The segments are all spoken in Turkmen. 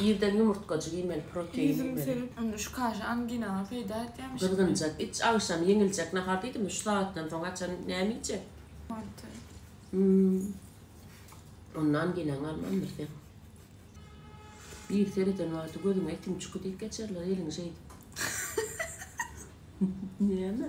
Irden ýumurtgajyk iýmeli, protein iýmeli. Indi şu kaşa anginaňa peýda edýärmiş. Gyzgynjak iç, agşam ýeňiljek nahar diýdim, şu sagatdan soň haçan näme iýjek? Manty. Hum. Onda anginaň galmandyr seň. Biri sereden wagty gözüňe itiň çüki diýip geçerler eliňi şeýdip. Näme?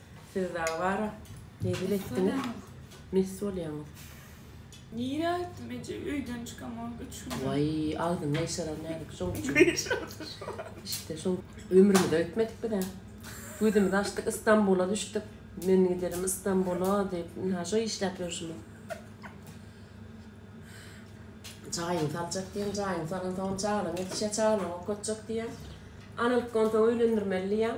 Siz dagy bara mebel etdiňiz mes bolýaňyz. Nirä gitdim eje öýden çykamok üç gün. Waý agzyň gaýşarar näzik şoň üçin. İşte şoň ömrümiz öýtmedik bizä. Gözümizi açdyk İstanbula düşdük. Men giderim İstanbula diýip ynha şo işläp ýörşümiz. Jaýyňy saljak diýen jaýyňy salansoň çagalar ýetişýär çagalar okatjak diýýän. Analyk onsoň öýlendirmeli diýýän.